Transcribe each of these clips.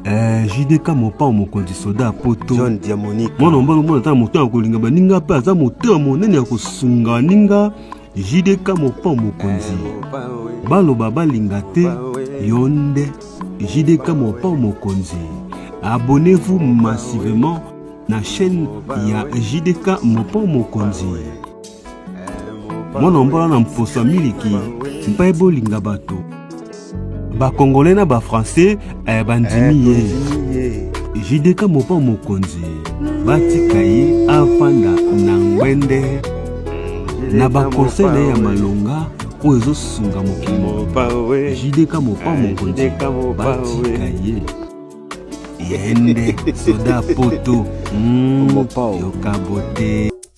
Eh, jdk mopao mokonzi soda ya poto john diamonique mwana mobali omona ata na moto ya kolinga baninga mpe aza motema monene ya kosunga baninga jdk mopao mokonzi eh, baloba balinga te yo nde jdk mopao mokonzi abonnez-vous massivement na chaîne ya jdk mopao mokonzi mwana mbola na mposa miliki mpe bolinga bato bakongole na bafrançais eh, bandimi ye jideka mopa mokonzi batika ye afanda na ngwende na bakonsei na ye ya malonga oyo ezosunga mokili mobimba jideka mopa mokonzi batika ye yende soda poto mm, yokabote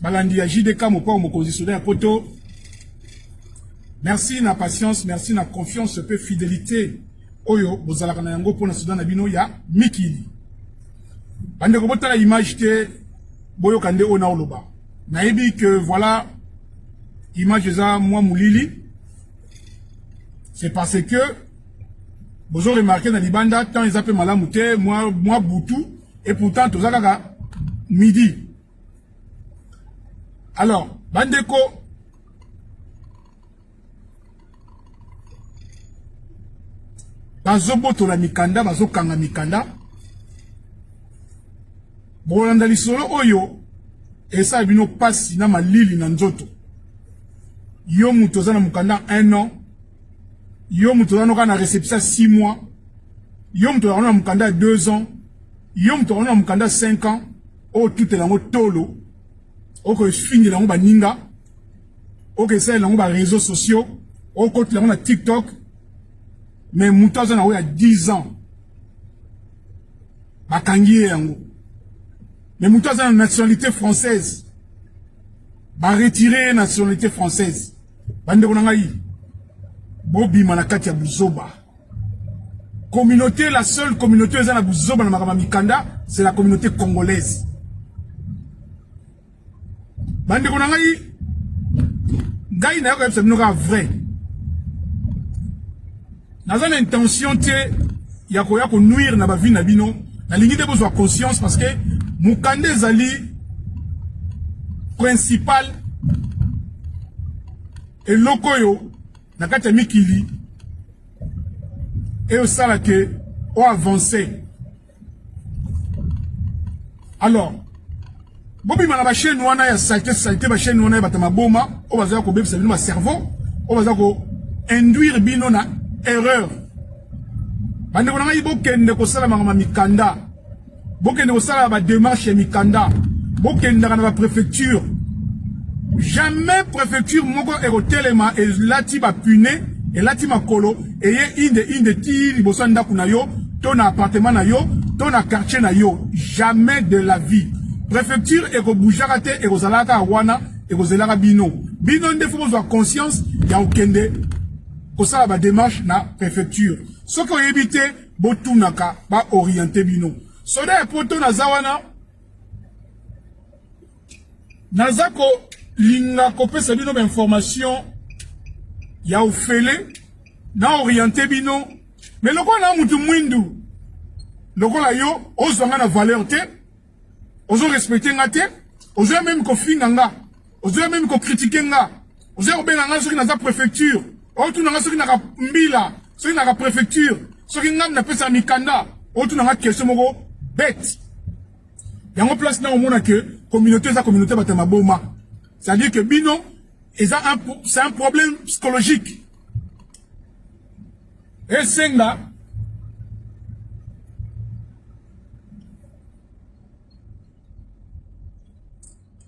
balandi ya JDK mokwa mokonzi soda ya poto merci na patience merci na confiance mpe fidelité oyo bozalaka na yango mpo na soda na bino ya mikili bandeko botala image te boyoka nde oyo naoloba nayebi que voilà image eza mwa molili c'est parce que bozo remarke na libanda temps eza mpe malamu te mwa, mwa butu et pourtant toza kaka midi alors bandeko bazobotola mikanda bazokanga mikanda bokolanda lisolo oyo esala bino mpasi na malili na nzoto yo moto oza na mokanda 1 an yo moto ozana kaka na reception ya 6 mois yo moto ozana na mokanda ya 2 ans yo moto ozana na mokanda ya 5 ans oyo tutela yango tolo okoefingela yango baninga okesalela yango bareseau sociaux okotela yango na tiktok me moto aza na yango ya 10 ans bakangi ye yango me moto aza na nationalité française baretire ye nationalité française bandeko na ngai bobima na kati ya buzoba communauté la seule communauté eza na buzoba na makambo ya mikanda c'est la communauté congolaise bandeko na ngai ngai nayoka yebisa bino kaka vrai naza na intention te ya koya konuire na bavi na bino nalingi nde bozwa conscience parce que mokanda ezali principal eloko oyo na kati ya mikili eyo esala ke oavance alors bobima na bachaine wana ya salite salite bachaine wana ya bato maboma oyo bazala kobebisa bino bacerveau oyo baza ko induire bino na erreur bandeko na ngai bokende kosala makama mikanda bokende kosala bademarche ya mikanda bokendaka na baprefecture jamais prefecture moko ekotelema elati bapune elati makolo eye inde inde ti liboso ya ndako na yo to na appartement na yo to na quartier na yo jamais de la vie préfecture ekobujaka te ekozalaka kaka wana ekozelaka bino bino nde fo bozwa conscience ya kokende kosala bademarche na préfecture soki oyebi te botunaka baoriente bino soda ya poto naza wana naza kolinga kopesa bino bainformation ya ofele na oriente bino me lokola na motu mwindu lokola yo ozwa nga na valeur te ozo respecte nga te ozoya meme kofinga nga ozoya meme kokritike nga ozoya kobenga nga soki naza préfecture otuna nga soki naka mbila soki naka préfecture soki ngai napesaka mikanda otuna nga question moko bete yango place na omona que communauté eza communauté bato ya maboma c'est-à-dire que bino eza c'est un problème psychologique esenga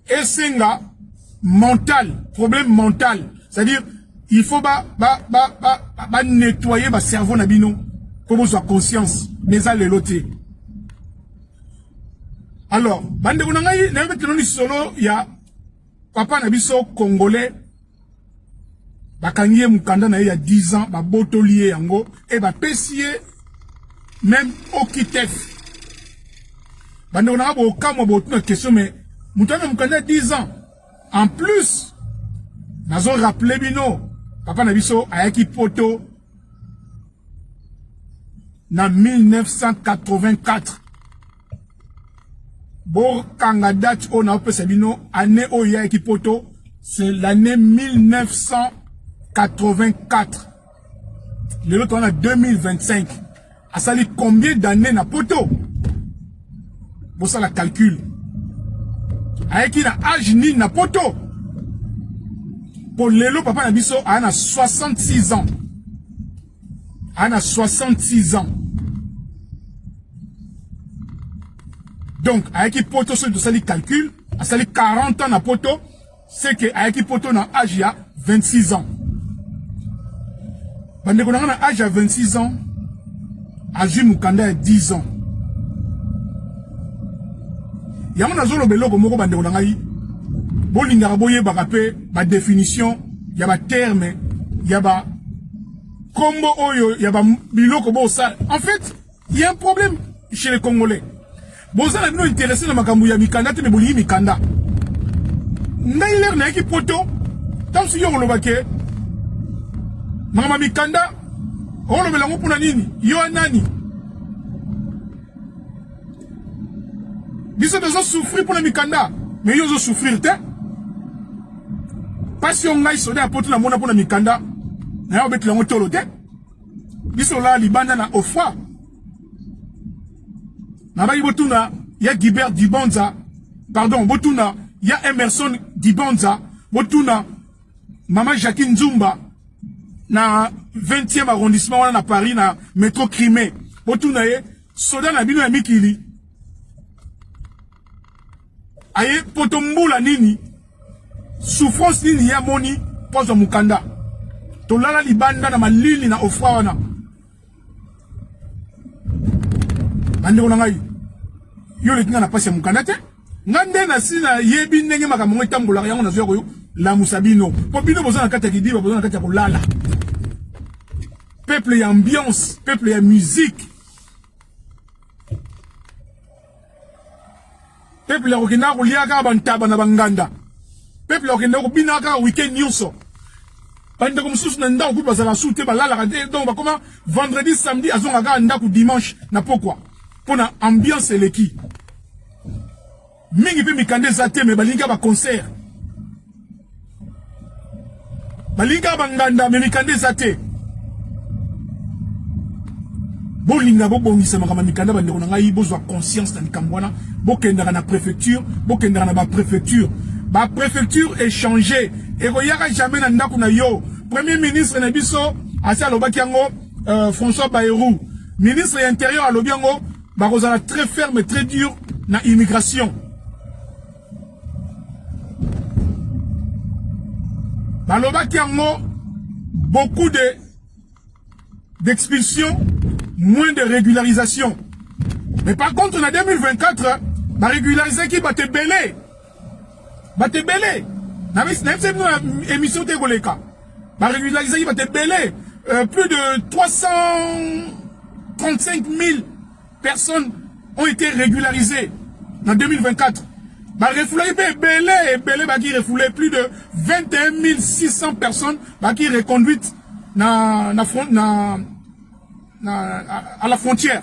esenga mental problème mental c'est à dire il faut ba ba ba ba, ba, ba nettoyer ba cerveau na bino pour bozwa conscience mais eza lelo te alors bandeko na ngai nayoki tino lisolo ya papa na biso congolais bakangi ye mokanda na ye ya 10 ans babotoli ye yango e bapesi ye meme okitef bandeko nanga bokamwa botuna question me moto ana mokanda ya 10 ans en plus nazo rappele bino papa na biso ayaki poto na 1984 bokanga date oyo naopesa bino année oyo eyaki poto c'est l'année 1984 lelo toza na 2025 asali combien d'année na poto bosala calcul ayaki na age nini na poto mpo lelo papa na biso aya na 66 ans ana 66 ans donc ayaki poto soki tosali calcul asali 40 ans na poto c'est que ayaki poto na âge ya 26 ans bandeko na nga na âge ya 26 ans azwi mokanda ya 10 ans yango nazoloba eloko moko bandeko na ngai bolingaka boyebaka mpe badefinition ya baterme ya ba Kombo oyo ya ba biloko bo sala. En fait, il y a un problème chez les Congolais. Bozala bino intéressé na makambo ya mikanda te mais bolingi mikanda. Ngai lere nayaki poto ntango soki okoloba ke makambo ya mikanda okolobela yango mpo na nini yo nani biso tozo souffrir mpona mikanda mais yo ozo souffrir te mpasi yo ngai soda ya poto namona mpona mikanda naye obetela yango tolo te biso olala libanda na ofra nabaki botuna ya gibert dibanza pardon botuna ya emerson dibanza botuna mama jacquine nzumba na 20e arrondissement wana na paris na metro crime botuna ye Soda na bino ya mikili aye poto mbula nini souffrance nini ye amoni mpo azwa mokanda tolala libanda na malili na ofra wana bandeko na ngai yo oleki ngai na mpasi ya mokanda te nga nde nasi nayebi ndenge makambo yango etambolaka yango nazoya koyo lamusa bino mpo bino boza na kati ya kidiba boza na kati ya kolala Peuple ya ambiance, peuple ya musique. Peuple ya kokenda kolia kaka bantaba na banganda. Peuple ya kokenda kobina kaka week-end nyonso. bandeko mosusu na ndako kutu bazalaka su te balalaka te donc bakoma vendredi samedi azongaka kaka ndako dimanche na pokwa mpo na ambiance eleki mingi pe mikanda eza te me balingi ba concert balingi ba nganda me mikanda eza te bolinga bobongisa makambo mikanda bandeko na ngai bozwa conscience na likambo wana bokendaka na préfecture bokendaka na baprefecture baprefecture échange ekoyaka jamais na ndako na yo premier ministre na biso asi alobaki yango euh, françois bayrou ministre ya intérieur alobi yango bakozala très ferme très dur na immigration balobaki yango beaucoup de d'expulsion moins de régularisation mais par contre na 2024 barégularisaki bato ebele bato ebele nayebisi bino na émission te ekoleka baregularisaki bato ebele euh, plus de 335 000 personnes ont été régularisées en 2024 barefoulaki mpe ebele ebele baki refoule plus de 21 600 personnes baki reconduite na, na, na, na, à la frontière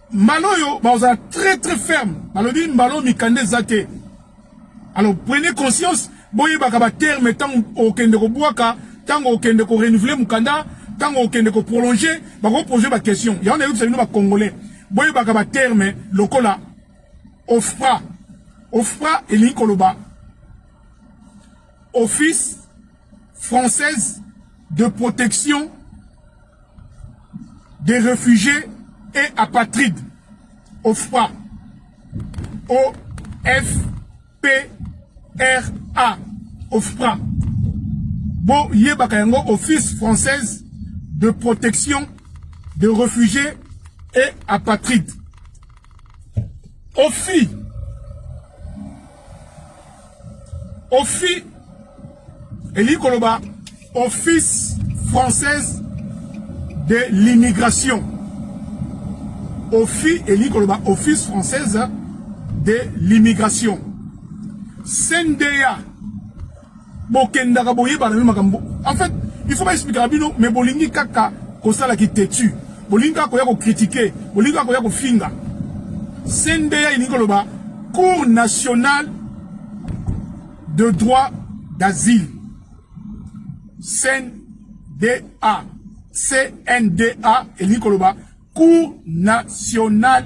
Mbala oyo bakozala très très ferme, balobi mbala oyo mikanda eza te. Alors prenez conscience, boyebaka ba terme ntango okende kobwaka, ntango okende ko renouveler mokanda, ntango okende ko prolonger, bako poser ba question. Yango nayebisa bino ba congolais, boyebaka ba terme lokola OFPRA. OFPRA elingi koloba office française de protection des réfugiés et apatrides, OFPRA, O-F-P-R-A, OFPRA. Bon, yebaka yango Office française de protection des réfugiés et apatrides. OFI ofi elingi koloba office française de l'immigration ofi elingi koloba office française de l'immigration cnda Bokendaka boyebana meme makambo. En fait, il faut ba expliquer bino mais bolingi kaka kosala ki têtu. Bolingi kaka koya ko critiquer, bolingi kaka koya kofinga. CNDA ilingi koloba Cour nationale de droit d'asile. CNDA. CNDA elingi koloba Cour nationale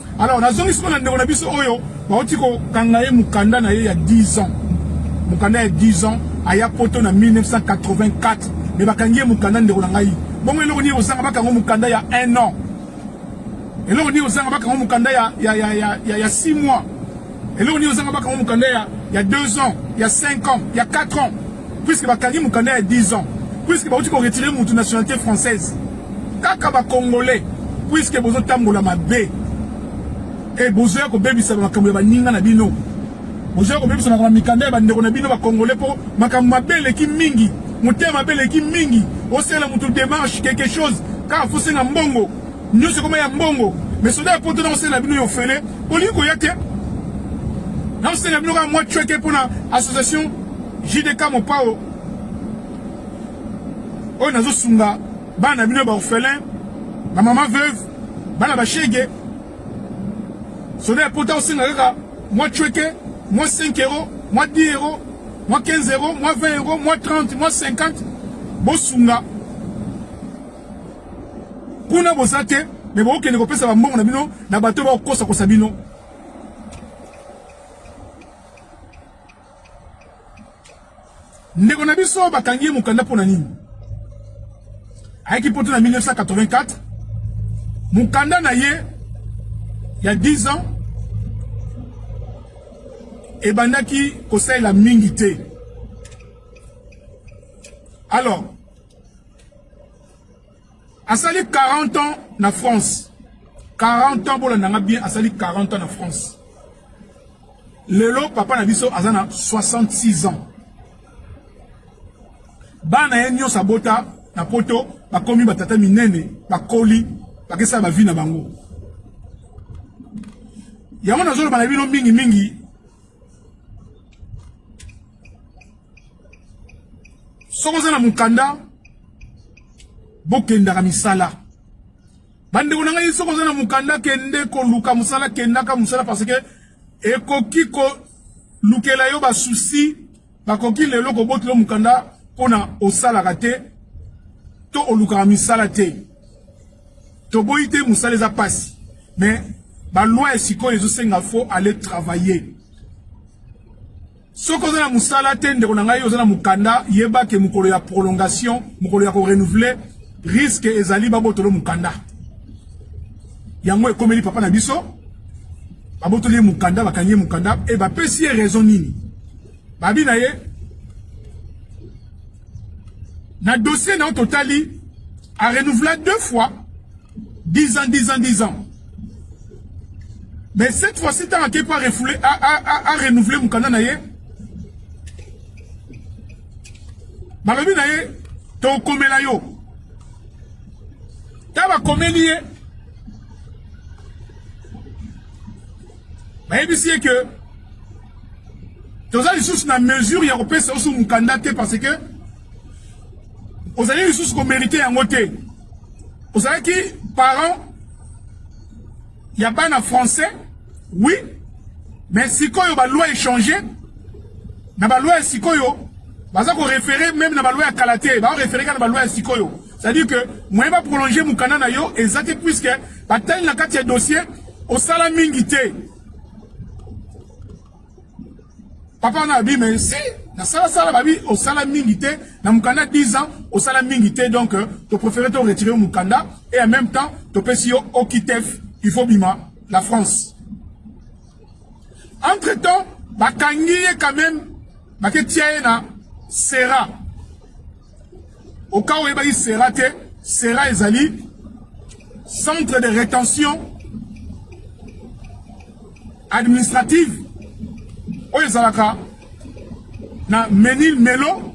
Alors nazongisi mpo na ndeko na biso oyo bauti kokanga ye mokanda na ye ya 10 ans mokanda ya 10 ans aya poto na 1984 me bakangi ye mokanda ndeko na ngai bongo eloko nini kozanga bakango mokanda ya 1 an eloko nini kozanga bakango mokanda ya 6 mois Eloko nini ozanga bakanga mukanda ya ya 2 ans, ya 5 ans, ya 4 ans puisque bakangi mukanda ya 10 ans puisque bauti ko retirer mutu nationalité française kaka ba congolais puisque bozo tambola mabe et bozoya ko bebisa makambo ya baninga na bino bozoya ko bebisa makambo ya mikanda ya bandeko na bino ba congolais po makambo mabe eleki mingi motema mabe eleki mingi osala mutu démarche quelque chose kaka fosenga mbongo Nyoso ekoma ya mbongo. Mais soda ya poto na kosala bino yo fele. Olingi koya te. Na kosala bino ka mwa chweke pona association JDK Mopao. Oyo nazo sunga bana bino ba orphelin, ba maman veuve, bana ba shege. Soda ya poto osenga kaka mwa chweke, mwa 5 euros, mwa 10 euros, mwa 15 euros, mwa 20 euros, mwa 30, mwa 50. Bosunga kuna boza te me bokokende kopesa bambongo na bino na bato bakokosa kosa bino ndeko na biso bakangi ye mokanda mpo na nini ayaki mpoto na 1984 mokanda na ye ya 10 ans ebandaki kosalela mingi te alors asali 40 ans na France 40 ans bolanda nga bien asali 40 ans na France lelo papa na biso aza na 66 ans bana ye nyonso abota na poto bakomi batata minene bakoli bakesala bavi na bango yango nazoloba na bino mingimingi soki oza na mokanda bokendaka misala bandeko na ngai soki oza na mokanda kende koluka mosala kendaka mosala parce que ekoki kolukela yo basusi bakoki lelo kobotela yo mokanda mpona osalaka te to olukaka misala te toboyi te mosala eza mpasi mais baloi ya sikoyo ezosenga fo aller travailler soki oza na mosala te ndeko na ngai oza na mokanda yeba ke mokolo ya prolongation mokolo ya korenouveler riske ezali babotolo mokanda yango ekomeli papa na biso babotoli ye mokanda bakangi ye mokanda e bapesi ye raison nini babi na ye na dossier na yo totali arenouvela deux fois 10 ans 10 ans 10 ans Mais cette fois-ci, tant à pas refoulé, à, à, à, renouveler mon canal naïe. Malobi naïe, ton comé la yo. T'as ma comé lié. Mais il dit que, toza lisusu na mesure ya kopesa oso mokanda te parce que ozali lisusu komérite yango te ozalaki parent ya bana français oui mais sikoyo baloi echange na baloi ya sikoyo baza korefere meme na baloi ya kala te baorefere kaka na baloi ya sikoyo c'est-à-dire que moyen baprolonge mokanda na yo eza te puiske batali na kati ya dossier osala mingi te papa na abi mais si na sala sala babi osala mingi te na mukanda 10 ans osala mingi te donc euh, to préféré to retirer mukanda et en même temps to pesi yo okitef il faut bima la France entre temps bakangi ye quand même baketia ye na sera Oka oyebaki sera te, sera ezali centre de rétention administrative oyo ezalaka na Menil Melo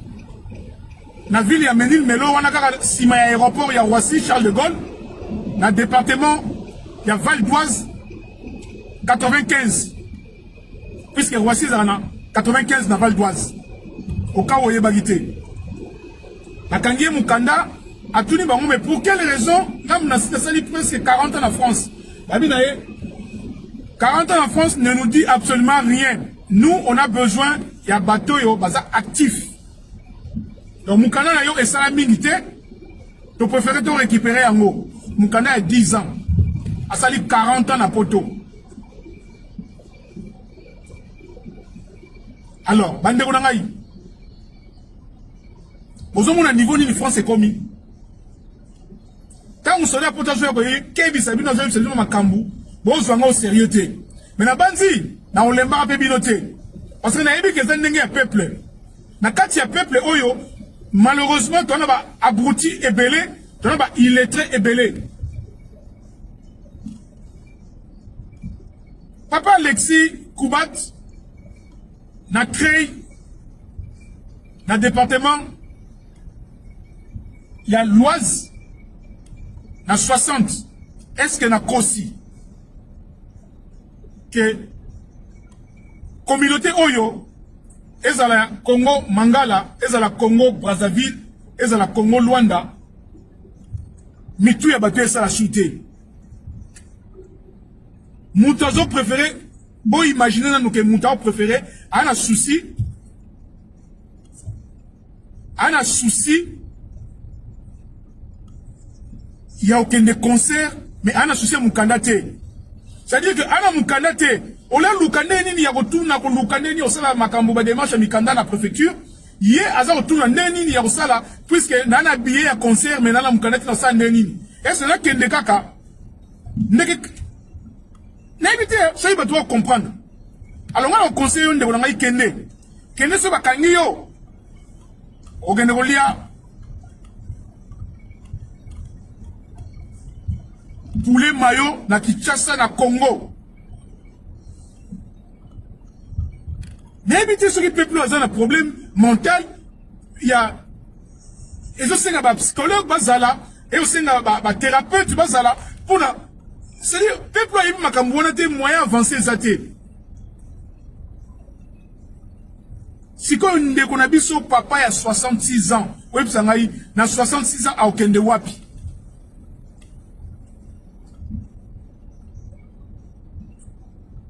na ville ya Menil Melo wana kaka nsima ya aéroport ya Roissy Charles de Gaulle na département ya Val d'Oise 95 puisque Roissy ezalaka na 95 na Val d'Oise oka oyebaki te bakangi ye mokanda atuni bango mais pour quelle raison ngambo na site asali presque 40 ans na France babi na ye 40 ans na France ne nous dit absolument rien nous on a besoin ya bato oyo baza actif donc mokanda na yo esala mingi te to préféré to récupérer yango mokanda ya 10 ans asali 40 ans na poto alors bandeko na ngai bozomona niveau nini france ekomi ntango soda poto azoya koyekebisa bino azoyebisa bino makambo bozwa ngo serieux te me nabanzi nakolembaka mpe bino te parce que nayebi ke eza ndenge ya peuple na kati ya peuple oyo malheureusement toza na ba abruti ebele toza na ba illettré ebele Papa Alexis Kubat, na créé na département il y a l'Oise na 60 est-ce que na kosi que communauté oyo ezala Congo Mangala ezala Congo Brazzaville ezala Congo Luanda mitu ya bato esala sute moto azo préféré boimagine nanu ke moto aopréféré aa na souci aa na souci ya okende concert mais aa na souci ya mokanda te c'est-à-dire que aa na mokanda te olaluka nde nini ya kotuna koluka nde nini osala makambo bademarche ya mikanda na préfecture ye aza kotuna nde nini ya kosala puiske naa na billet ya concert me nalamuka nati nasala nde nini ese nakende kaka ndeke nayebi te soki bato bakomprendre alonga na conseil yo ndeko na ngai kende kende soki bakangi yo okende kolia poulet mayo na kinshasa na congo nayebi te soki peuple aza na problème mental ya ezosenga bapsychologue bazala ezosenga bathérapeute bazala mpona c'est-à-dire peuple ayebi makambo wana te moyen avance eza te sikoyo ndeko na biso papa ya 66 ans oyebisa ngai na 66 ans akokende wapi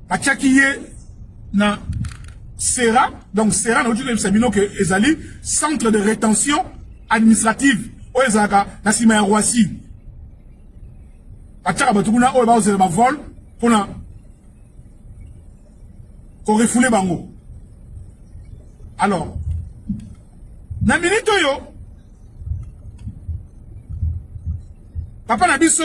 batiaki ye na sera donc sera nauti koyebisa bino ke ezali centre de rétention administrative oyo ezalaka na nsima ya roissy batiaka bato kuna oyo bakozela bavole mpona korefule bango alors na minite oyo papa na biso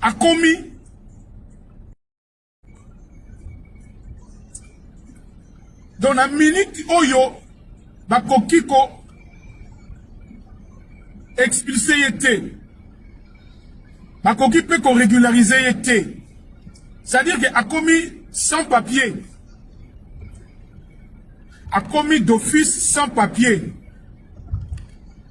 akomi donc na minute oyo bakoki ko expulse ye te bakoki mpe koregularize ye te c'est-à-dire ke akomi sans papier akomi d'office sans papier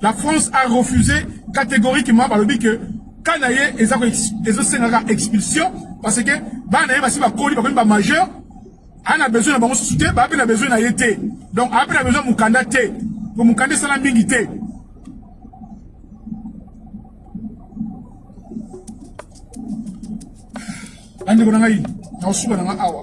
La France a refusé catégoriquement balobi que cas na ye eza ezosengaka expulsion parce que bana na ye basi bakoli bakomi ba majeur aa na besoin na bango susu te baa mpe na besoin na ye te donc aa mpe na besoin mokanda te po mokanda esala mingi te bandeko na ngai nakosuka na ngai awa